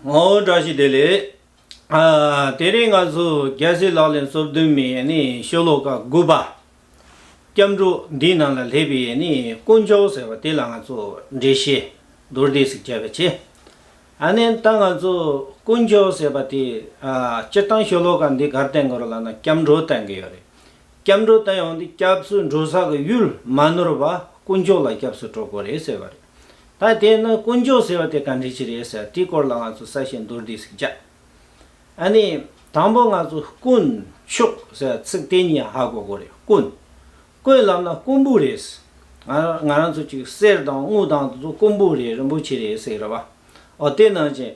ངའོ་བཀྲ་ཤིས་བདེ་ལེགས། དེ་རིང་ང་ཚོ་རྒྱལ་སྲས་ལག་ལེན་གསོལ་བསྡུ་མི་ཤོ་ལོ་ཀ་དགུ་པ་སྐྱབས་འགྲོ་འདི་རྣམས་ལ་ལྷས་པའི་དཀོན་མཆོག་ཟེར་བ་དེ་ལ་ང་ཚོ་འགྲེལ་བཤད་རྡོར་བཟླས་ཟིག་བྱས་པ་ཆེ། ཨཱ་ནན་ད་ང་ཚོ་དཀོན་མཆོག་ཟེར་བ་དེ་སྤྱིར་བཏང་ཤོ་ལོ་ཀ་འདི་གར་བསྟན་དགོས་རོ་ལ་ན་སྐྱབས་འགྲོ་བསྟན་གི་ཡོད་རེད། སྐྱབས་འགྲོ་བསྟན་ཡོང་དུས་སྐྱབས་སུ་འགྲོ་ས་གི་ཡུལ་མ་ནོར་བ་དཀོན་མཆོག་ལ་སྐྱབས་སུ་འགྲོ་དགོས་རེད་ཟེར་བ་རེད། ད་དེས་ན་དཀོན་མཆོག་ཟེར་བ་དེ་ག་འདྲི་ཅི་རེད་ཟེར་དེའི་སྐོར་ལ་ང་ཚོ་གསལ་བཤད་མདོར་བསྡུས་ཟིག་བྱ། ཨ་ནི། དང་པོ་ང་ཚོ་དཀོན་མཆོག་ཟེར་ཚིག་དེ་གཉིས་ཧ་གོ་གོ་རེད་དཀོན། དཀོན་ལབ་ན་དཀོན་པོ་རེད། ང་རང་ཚོ་གཅིག་གསེར་དང་དངུལ་དང་དེ་ཚོ་དཀོན་པོ་རེད་རིན་པོ་ཆེ་རེད་ཟེར་གི་རེད་པ། ཨོ་དེ་ནང་བཞིན།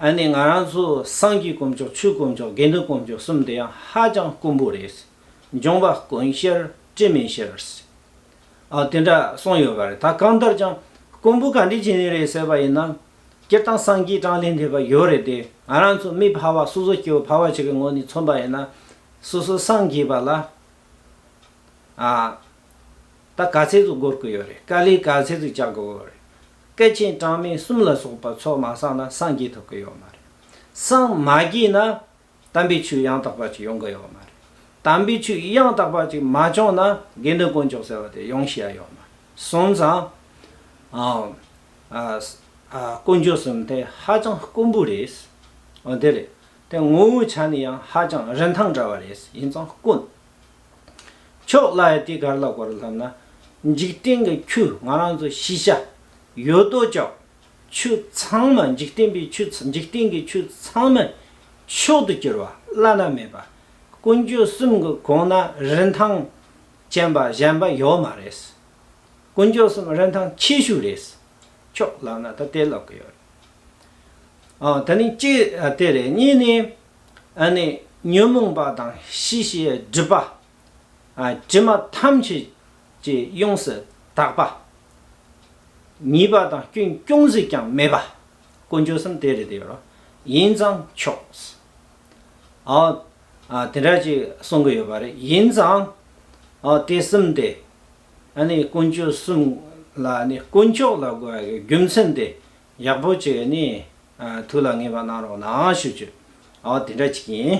ཨ་ནི་ང་རང་ཚོ་སངས་རྒྱས་དཀོན་མཆོག་ཆོས་དཀོན་མཆོག་དགེ་འདུན་དཀོན་མཆོག་གསུམ་དེ་ཡང་ཧ་ཅང་དཀོན་པོ་རེད། འབྱུང་བ་དཀོན་ཤེར་སྤྲིན་མེད་ཤེར། ཨ། དེ་འདྲ་གསུངས་ཡོད་པ་རེད་ད་གང་ལྟར་ཀྱང། ཀོང་པོ་ག་འདྲའི་བྱས་ནས་རེད་ཟེར་བ་ཡིན་ནམ། སྤྱིར་བཏང་སངས་རྒྱས་བགྲང་ལས་འདས་པ་ཡོད་རེད་དེ་ང་རང་ཚོ་མི་ཕལ་བ་སོ་སོ་སྐྱེ་བོ་ཕལ་བ་ཞིག་གི་ངོས་ནས་མཚོན་པ་ཡིན་ན། སོ་སོ་སངས་རྒྱས་པ་ལ། ཨ། ད་ག་ཚད་དུ་འགོར་གི་ཡོད་རེད་དཀའ་ལས་ག་ཚད་དུ་བྱ་གི་འོས་རེད། སྐད་ཆེན་གྲངས་མེད་གསུམ་ལ་སོགས་པ་ཚོ་མ་བསགས་ན་སངས་རྒྱས་ཐུབ་གི་ཡོད་མ་རེད། སངས་མ་རྒྱས་ན། དམ་པའི་ཆོས་ཡང་དག་པ་ཅིག་ཡོང་གི་ཡོད་མ་རེད། དམ་པའི་ཆོས་ཡང་དག་པ་ཅིག་མ་བྱུང་ན་དགེ་འདུན་དཀོན་མཆོག་ཟེར་བ་དེ་ཡོང་ཤེས་ཡ་ཡོད་མ་རེད། གསུམ་ཚང། དཀོན་མཆོག་གསུམ་དེ་ཧ་ཅང་དཀོན་པོ་རེད། འོ་དེ་རེད། དེ་ངོ་བོའི་ཆ་ནས་ཡང་ཧ་ཅང་རིན་ཐང་བྲལ་བ་རེད་ཡིན་ཙང་དཀོན། མཆོག་བླ་ཡ་དེ་གར་ལ་གོ་རུ་ལྷམ་ན། འཇིག་རྟེན་གྱི་ཁྱུ་ང་རང་ཚོ་ཤེས་བྱ། ཡོད་དོ་ཅོག། ཆུ་ཚང་མ་འཇིག་རྟེན་པའི་ཆུ་འཇིག་རྟེན་གྱི་ཆུ་ཚང་མ་མཆོག་ཏུ་གྱུར་པ་བླ་ན་མེད་པ་དཀོན་མཆོག་གསུམ་གྱི་གོང་ན་རིན་ཐང་ཅན་པ་གཞན་པ་ཡོད་མ་རེད། དཀོན་མཆོག་གསུམ་རིན་ཐང་ཆེ་ཤོས་རེད། ཁྱོད་ལབ་ན་ད་དེ་ལབ་གི་ཡོད་རེད། དེ་ནི་གཅིག་དེ་རེད་གཉིས་ནི། ཉོན་མོངས་པ་དང་ཤེས་བྱའི་སྒྲིབ་པ། ཕྱི་མ་ཐམས་ཅད་ཀྱི་ཡོངས་སུ་དག་པ། ཉེས་པ་དང་སྐྱོན་ཅུང་ཟིག་ཀྱང་མེད་པ། དཀོན་མཆོག་གསུམ་དེ་རེད་ཡོད་རོགས། ཡིན་ཙང་ཆོག། དེ་འདྲ་ཅིག་གསུང་གི་ཡོད་པ་རེད། ཡིན་ཙང། དེ་གསུམ་དེ། དཀོན་མཆོག་གསུམ་ལ་དཀོན་མཆོག་ལ་དགོས་པའི་རྒྱུ་མཚན་དེ་ཡག་པོ་ཅིག་ཐུགས་ལ་ངེས་པ་གནང་རོགས་གནང་ཞུ། དེ་འདྲ་ཅིག་ཡིན།